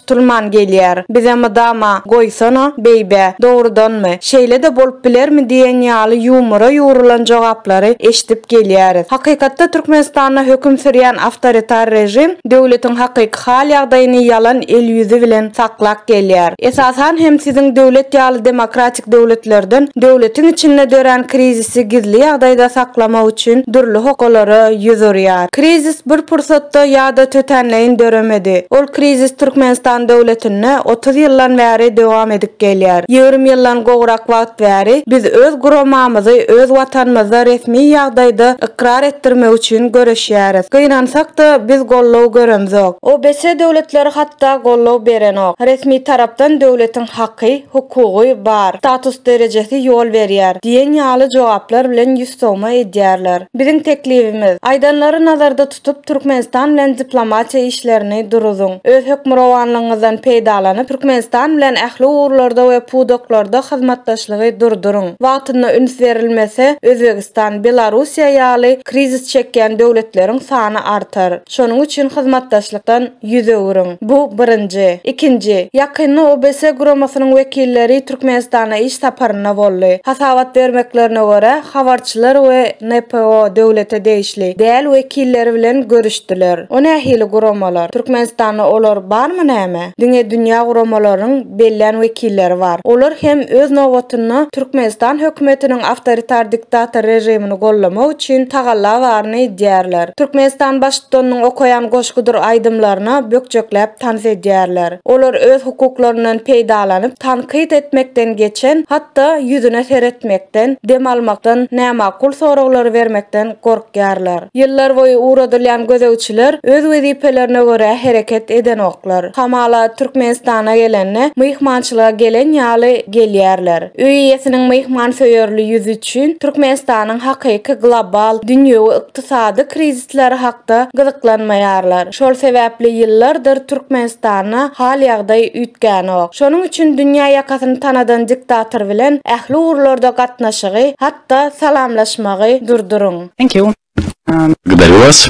Tutulman gelýär. Bize mydama, Goýsana, beýbä, dogrudanmy, şeýle-de bolup bilermi diýen ýaly ýumora ýugrulan jogaplary eşidip gelýäris. Hakykatda Türkmenistanda höküm sürýän awtoritar režim döwletiň hakyky hal-ýagdaýyny ýalan el-ýüzi bilen saklak gelýär. Esasan hem siziň döwlet ýaly demokratik döwletlerden döwletiň içinde dörän krizisi gizli ýagdaýda saklamak üçin dürli hokalara ýüz urýar. Krizis bir pursatda ýa-da tötänleýin döremedi. Ol krizis Türkmenistan döwletinde otuz ýyldan bäri dowam edip gelýär. Ýigrimi ýyldan gowrak wagt bäri biz öz guramamyzy öz Watanymyzda resmi ýagdaýda ykrar etdirmek üçin göreşýäris. Gynansak-da, biz goldaw göremzok. OBS döwletleri hatda goldaw berenok. Resmi tarapdan döwletiň haky, hukugy, bar, status derejesi ýol berýär diýen ýaly jogaplar bilen ýüzsowma edýärler. Biziň teklibimiz, aýdanlary nazarda tutup, Türkmenistan bilen diplomatiýa işlerini duruzyň. Öz hökmürowanlygyňyzdan peýdalanyp, Türkmenistan bilen ähli ugurlarda we pudaklarda hyzmatdaşlygy durduryň. Wagtynda üns berilmese, Özbegistan, Belarussiýa ýaly krizis çekýän döwletleriň sany artar. Şonuň üçin hyzmatdaşlykdan. Ýüz öwrüň. Bu birinji. Ikinji, ýakynda OBS guramasynyň wekilleri Türkmenistana iş saparynda boldy. Hasabat bermeklerine görä, habarçylar we NPO, döwlete degişli däl, wekilleri bilen görüşdiler. O nähili guramalar? Türkmenistanda olar barmy näme? Diňe dünýä guramalarynyň bellän wekilleri bar. Olar hem öz nobatynda Türkmenistan hökümetiniň awtoritar diktator režimini gollamak üçin tagalla baryny edýärler. Türkmenistan Baştutanynyň okaýan goşgudyr aýdymlaryna bökjekläp tans edýärler. Olar öz hukuklaryndan peýdalanyp, tankyt etmekden geçen, hatda ýüzüne seretmekden, dem almakdan, nämakul soraglary bermekden gorkýarlar. Ýyllar boýy ugradylýan gözegçiler öz wezipelerine görä hereket edenoklar. Hamala, Türkmenistana gelende, myhmançylyga gelen ýaly gelýärler. Öý eýesiniň myhmansöýerli ýüzi, üçin Türkmenistanyň hakyky global, dünýewi ykdysady krizisleri hakda gyzyklanmaýarlar. Şol sebäpli ýyllardyr Türkmenistanda hal-ýagdaý üýtgänok. Şonuň üçin dünýä ýakasyny tanadan diktator bilen ähli ugurlarda gatnaşygy, hatda salamlaşmagy durduryň. Thank you. Gdalýu was.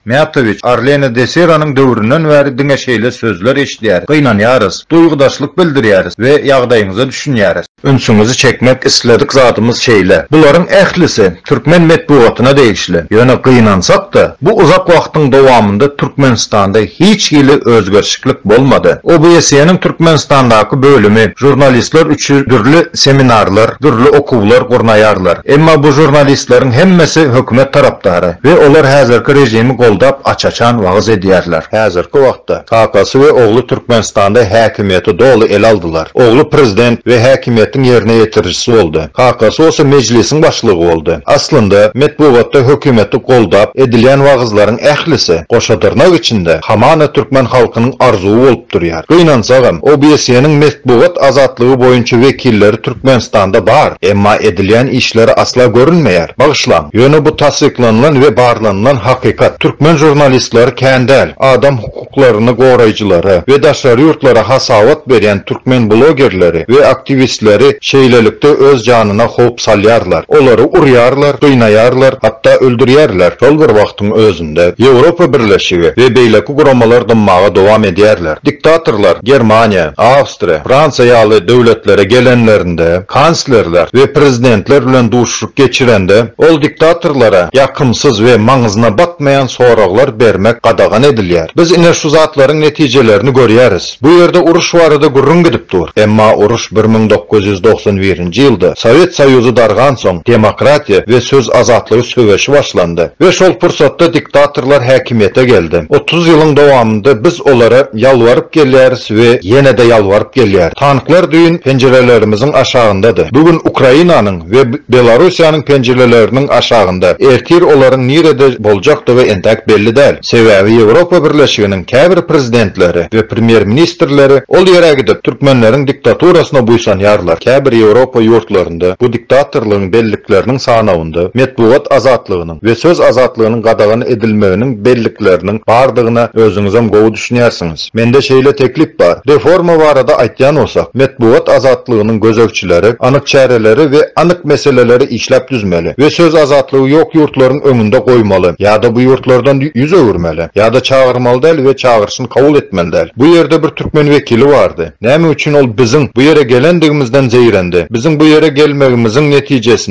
Mätowiç, Arlene de Seranyň döwründen bäri diňe şeýle sözler eşidýäris, gynanýarys, duýgudaşlyk bildirýäris we ýagdaýyňyza düşünýäris. Ünsüňizi çekmek isledik zadymyz şeýle, bularyň ählisi türkmen metbugatyna degişli, ýöne gynansak-da, bu uzak wagtyň dowamynda Türkmenistanda hiç hili özgerişiklik bolmady. OBSE-niň Türkmenistandaky bölümi žurnalistler üçin dürli seminarlar, dürli okuwlar gurnaýarlar. Emma bu žurnalistleriň hemmesi hökümet tarapdary. We olar häzirki rejimi goldap aç-açan wagyz edýärler. Häzirki wagtda kakasy we ogly Türkmenistanda häkimiýeti doly ele aldylar. Ogly prezident we häkimiýetiň ýerine ýetirijisi boldy. Kakasy bolsa mejlisiň başlygy boldy. Aslynda, metbugatda hökümeti goldap edilýän wagyzlaryň ählisi, goşadyrnak içinde, hamana türkmen halkynyň arzuwy bolup durýar. Gynansagam, OBSE-niň metbugat azatlygy boýunça wekilleri Türkmenistanda bar, emma edilýän işleri asla görünmeýär. Bagyşlaň, ýöne bu tassyklanylan we barlanylan hakykat. Türkmen žurnalistleri kän däl. Adam hukuklaryny goraýjylary we daşary ýurtlara hasabat berýän türkmen blogerleri we aktiwistleri şeýlelikde öz janyna howp salýarlar. Olary urýarlar, gynaýarlar, hatda öldürýärler. Şol bir wagtyň özünde. döwletlerinde Ýewropa Birleşigi we beýleki guramalar dymmaga dowam edýärler. Diktatorlar Germaniýa, Awstriýa, Fransiýa ýaly döwletlere gelenlerinde, kanslerler we prezidentler bilen duşuşyk geçirende, ol diktatorlara ýakymsyz we maňyzyna batmaýan soraglar bermek gadagan edilýär. Biz ine şu zatlaryň netijelerini görýäris. Bu ýerde uruş barada gürrüň gidip dur. Emma uruş bir müň dokuz ýüz togsan birinji ýylda, Sowet Soýuzy dargansoň, demokratiýa we söz azatlygy söweşi başlandy we şol pursatda diktatorlar häkimiýete geldi. Otuz ýylyň dowamynda biz olara ýalbaryp gelýäris we ýene-de ýalbaryp gelýäris. Tanklar düýn penjirelerimiziň aşagyndady. Bu gün Ukrainanyň we Belarusiýanyň penjireleriniň aşagynda. Ertir olaryň nirede boljakdygy entäk belli däl. Sebäbi Ýewropa Birleşiginiň käbir prezidentleri we premýer-ministrleri ol ýere gidip, türkmenleriň diktaturasyna buýsanýarlar. Käbir Ýewropa ýurtlarynda bu diktatorlygyň bellikleriniň sanawynda metbugat azatlygynyň we söz azatlygynyň gadagan edilmeginiň bellikleriniň bardygyna özüňizem gowy düşünýärsiňiz. Mende şeýle teklip bar. Reforma barada aýtýan bolsak, metbugat azatlygynyň gözegçileri anyk çäreleri we anyk meseleleri işläp düzmeli we söz azatlygy ýok ýurtlaryň öňünde goýmaly, ýa-da bu ýurtlardan ýüz öwürmeli, ýa-da çagyrmaly däl we çagyryşyny kabul etmeli däl. Bu ýerde bir türkmen wekili bardy. Näme üçin ol biziň bu ýere gelendigimizden zeýrendi? Biziň bu ýere gelmegimiziň netijesinde,